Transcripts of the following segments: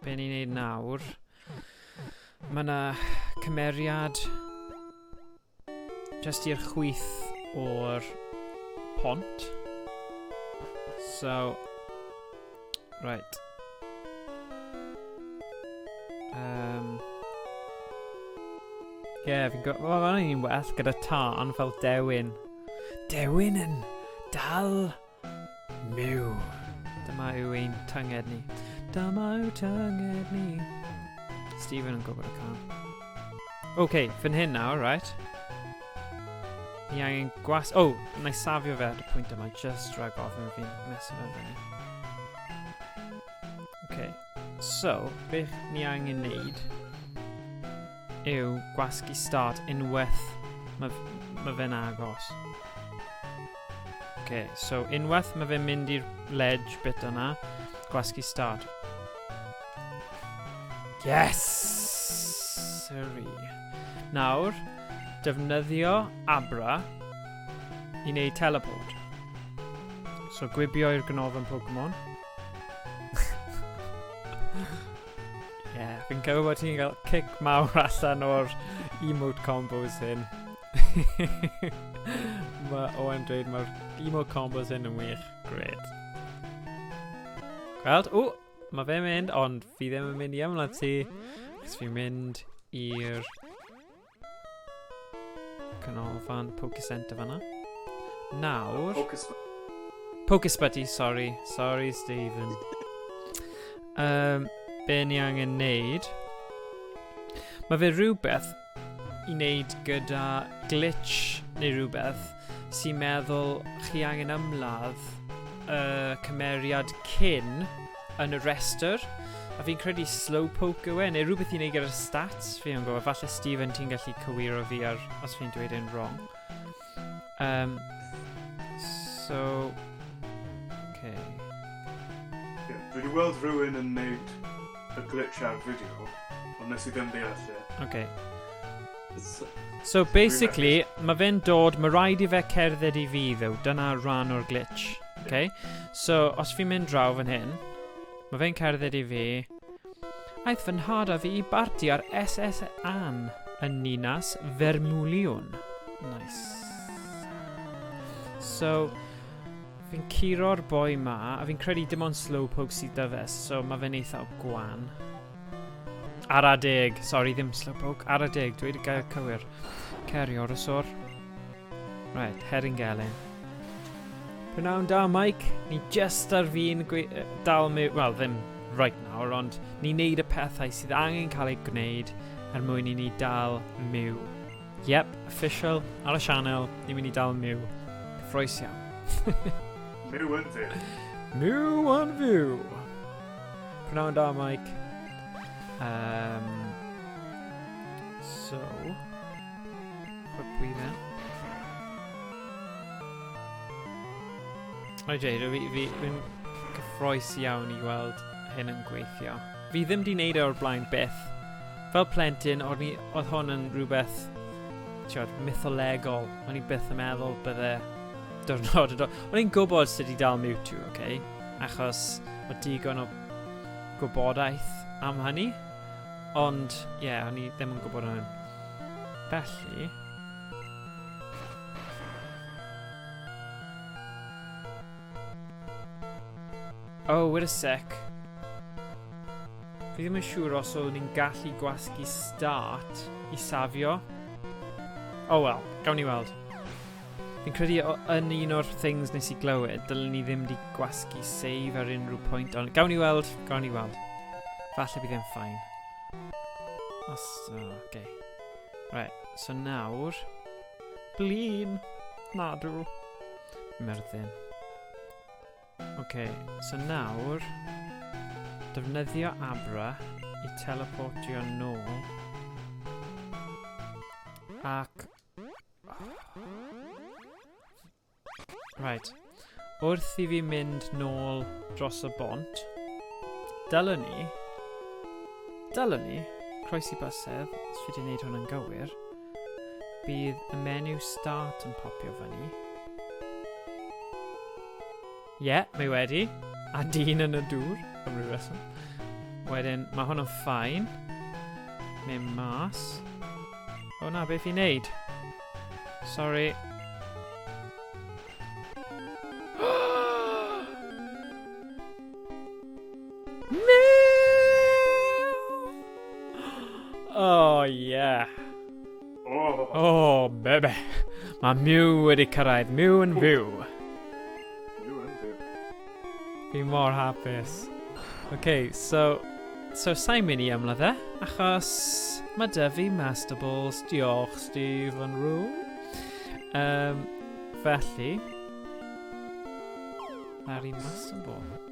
Be ni'n neud nawr? Mae yna cymeriad just i'r chwyth o'r pont. So, right. Um, Ie, yeah, fi'n gwybod... Wel, mae'n un well gyda tân fel dewin. Dewin yn dal Myw. Dyma yw ein tynged ni. Dyma yw tynged ni. Stephen yn gwybod y can. Oce, okay, fyn hyn nawr, right? Ni angen gwas... O, oh, na i safio fe ar y pwynt yma, just drag off yn fi'n mesur fe fyny. Oce, okay. so, beth ni angen neud yw gwasgu start unwaith mae ma fe'n agos. Okay, so unwaith mae fe'n mynd i'r ledge bit yna, gwasgu start. Yes! Sorry. Nawr, defnyddio Abra i wneud teleport. So gwibio i'r gnof yn Pokemon. Ie, yeah, fi'n cofio bod ti'n cael cic mawr allan o'r emote combos hyn. Mae Owen dweud mae'r emote combos hyn yn wych. Gred. Gweld? O! Mae fe mynd, ond fi ddim yn mynd i ymlaen ti. Cos fi'n mynd i'r Canolfan Poke Centre fanna. Nawr... Pocus... Pocus Buddy, sorry. Sorry, Stephen. um, be ni angen neud? Mae fe rhywbeth i wneud gyda glitch neu rhywbeth sy'n meddwl chi angen ymladd y cymeriad cyn yn y rhestr. A fi'n credu Slowpoke yw e, neu rhywbeth i wneud gyda'r stats, fi yn gwybod. Falle Stephen, ti'n gallu cywiro fi ar os fi'n dweud yn wrong. Um, so... Okay. Yeah, dwi wedi weld rhywun yn neud y glitch ar fideo, ond nes i ddim deall e. Okay. So basically, mae fe'n dod, mae rhaid i fe cerdded i fi ddew, dyna rhan o'r glitch. Okay? So, os fi'n mynd draw fan hyn, mae fe'n cerdded i fi. Aeth fy nhad a fi i barti ar SS Ann yn Ninas Fermwliwn. Nice. So, fi'n curo'r boi ma, a fi'n credu dim ond slow poke sydd da fe, so mae fe'n eithaf gwan. Ar a deg. Sorry, ddim slowpoke. Ar a deg, dweud y gair cywir. Ceri o'r ysor. Right, herring gelyn. Prynawn da, Mike. Ni just ar fi'n dal mi... Wel, ddim right now, ond ni'n neud y pethau sydd angen cael ei gwneud er mwyn i ni dal myw. Yep, official, ar y sianel, ni'n mynd i dal myw. Cyffroes iawn. myw yn fyw. Myw yn fyw. Prynawn da, Mike. Um, so, put we then. Rhaid dweud, fi, fi, fi'n gyffroes iawn i weld hyn yn gweithio. Fi ddim di wneud e o'r blaen beth. Fel plentyn, oedd, ni, oedd hwn yn rhywbeth tiod, mytholegol. O'n i byth yn meddwl bydde diwrnod yn dod. O'n i'n gwybod sut i dal Mewtwo, oce? Okay? achos mae digon o gwybodaeth am hynny. Ond, ie, yeah, o'n i ddim yn gwybod hwn. Felly... Oh, wait a sec. Fi ddim yn siŵr os o'n i'n gallu gwasgu start i safio. Oh well, gawn ni weld. Fi'n credu o, yn un o'r things nes i glywed, dylen ni ddim di gwasgu save ar unrhyw pwynt, ond gawn ni weld, gawn ni weld. Falle bydd e'n ffain. Os, o, oh, okay. Right, so nawr... Blin! Nadw! Myrddin. Okay, so nawr... Defnyddio Abra i teleportio nôl. Ac Right. Wrth i fi mynd nôl dros y bont, dylwn ni... Dylwn ni, croesi bysedd, os fi wedi gwneud hwn yn gywir, bydd y menu start yn popio fyny. Ie, mae wedi. A dyn yn y dŵr, am ryw reswm. Wedyn, mae hwn yn ffain. Mae mas. O na, beth fi'n neud? Sorry. no! Oh, yeah. O, bebe. Mae Mew wedi cyrraedd. Mew yn fyw. Mew yn fyw. Fi mor hapus. Okay, so... So, sa'n mynd i ymladd e, achos mae dy fi Master Balls. Diolch, Steve and Roo. Um, felly... Mae'r un Master Ball.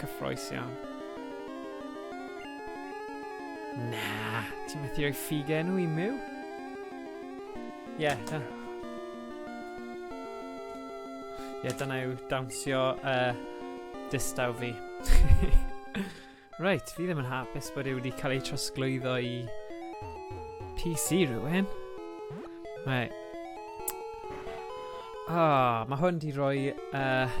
Cyffroes iawn. Na, ti'n methu rhoi ffug enw i miw? Ie, yeah, da. Ie, yeah, dyna yw dawnsio uh, distaw fi. Reit, fi ddim yn hapus bod e wedi cael ei trosglwyddo i PC rhywun. Mae... Ah, mae hwn di roi... Uh,